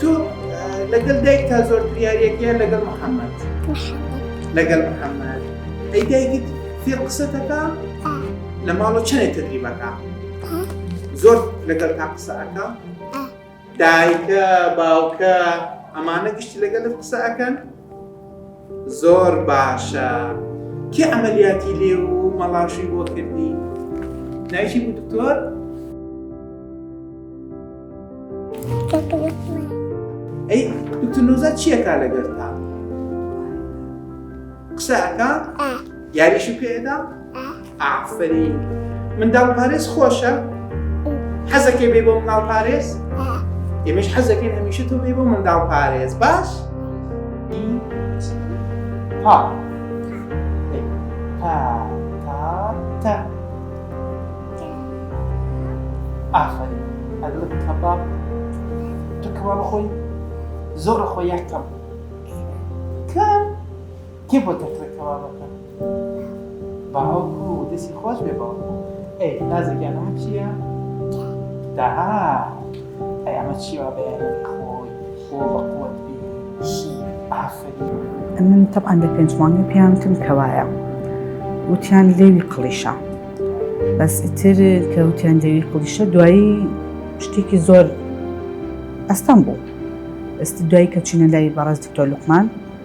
تۆ لەگەل دایکتا زۆرتر یاریەک یان لەگەل محمد لەگەل محمد ئەی دایکت فێ قسەتەکە لە ماڵە چەنێ تدریبەکە زۆر لەگەل تا قسەکە دایکە باوکە ئەمانە گشتی لەگەل قسەکەن زۆر باشە کێ عەمەلیاتی لێ و مەڵاشوی بۆ کردی دایکی بوو دکتۆر؟ ئەی دکتۆر نوزاد چیەکە لەگەرتا قسەکە یاریشی پێدا؟ ئافەرین منداڵ پارێز خۆشە حەزەکەی بێ بۆ مناڵ پارێز ئێمەش حەزەکەی هەمیشە تۆ بێ بۆ منداڵ پارێز باش ها ها تا تا ئافەرین ئەدڵت کەباب تۆ کەوا بخۆی زۆر خۆ یەکەم کەم کێ بۆ تەقرە کەبابەکە باوکو دەسی خۆش بێ باوکو ئەی نازەگیان ئەمە چییە داها ئەی ئەمە چیوە بەیانی خۆی خۆ بەقوت بی شی ئافری من طبعا لە پێنج مانگی پێیانتم کەوایە وتیان لێوی قڵیشە بەس ئیتر کە وتیان لێوی قڵیشە دوایی شتێکی زۆر ئەستەم بوو ئەستی دوایی کە چینە لای بەڕێز دکتۆر لوقمان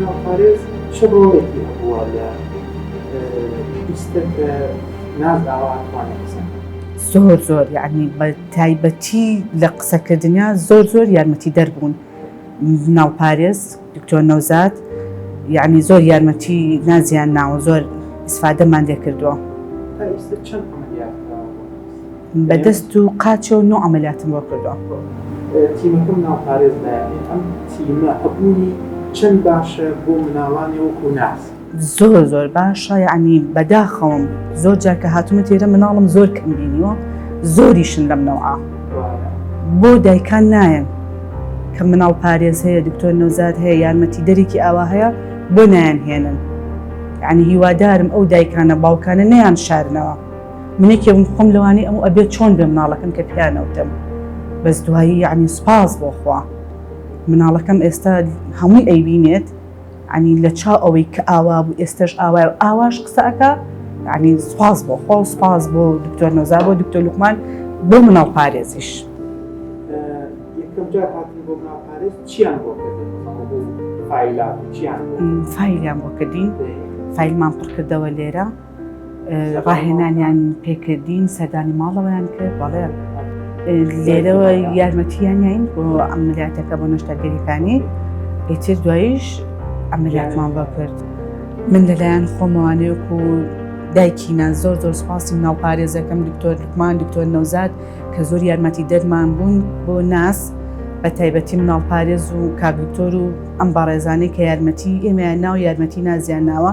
ناوپارێز چ ڕۆڵێکی هەبووە لە ئیستە کە ناز ئاوا ئەتوانێ قسە کات؟ زۆر زۆر یەعنی بە تایبەتی لە قسەکردنیا زۆر زۆر یارمەتی دەر بوون ناوپارێز دکتۆر نەوزاد یەعنی زۆر یارمەتی نازیان ناوە زۆر ئیسفادەمان لێ کردووە. تا ئیستە چەند عەمەلیات کراوە بۆ ناز؟ بە دەست و قاچەوە نۆ عەمەلیاتم بۆ کردووە. تیمەکەم ناوپارێز دایانێ، ئەم تیمە هەبوونی چەند باشە بۆ مناڵانێ وەکو ناز؟ زۆر زۆر باشە یەعنی بەداخەوەم زۆر جار کە هاتوومەتە ئێرە مناڵم زۆر کەم بینیوە زۆریشن لەم نەوعە بۆ دایکان نایەن کە مناڵ پارێز هەیە دکتۆر نەوزاد هەیە یارمەتی دەرێکی ئاوا هەیە بۆ نایەن هێنن یەعنی هیوادارم ئەو دایکانە باوکانە نەیان شارنەوە. منێکێ بم خۆم لەوانی ئەم ئەبێت چۆن بێ مناڵەکەم کە پیانەوتم بەس دوایی یعنی سپاس بۆخوا مناڵەکەم ئێستا هەمووی ئەیبینێت عنی لە چا ئەوەی کە ئاوا بوو ئێستش ئاوا ئاواش قسەکە عنی سپاس بۆ خۆ سپاس بۆ دکتۆر نۆزا بۆ دکتۆر لوقمان بۆ مناڵ پارێزیش چیان بۆ فیلان بۆ کردین فیلمان پڕکردەوە لێرە ڕاهێنانیان پێکردین سەردانی ماڵەوەیان کرد بەڵێ لێرەوە یارمەتیانین بۆ ئەملیاتەکە بۆ نەشتەگەریەکانی ئیتر دوایش ئەملیاتمان بە کرد من لەلایەن خۆمەوانێک و دایکینا زۆر زۆر سپاسی ناو پارێزەکەم دکتۆر لوکمان دکتۆر نەوزاد کە زۆر یارمەتی دەرمان بوون بۆ ناس بە تایبەتی مناڵ پارێز و کاگکتۆر و ئەم بەڕێزانەی کە یارمەتی ئێمە ناو یارمەتی نازیان ناوە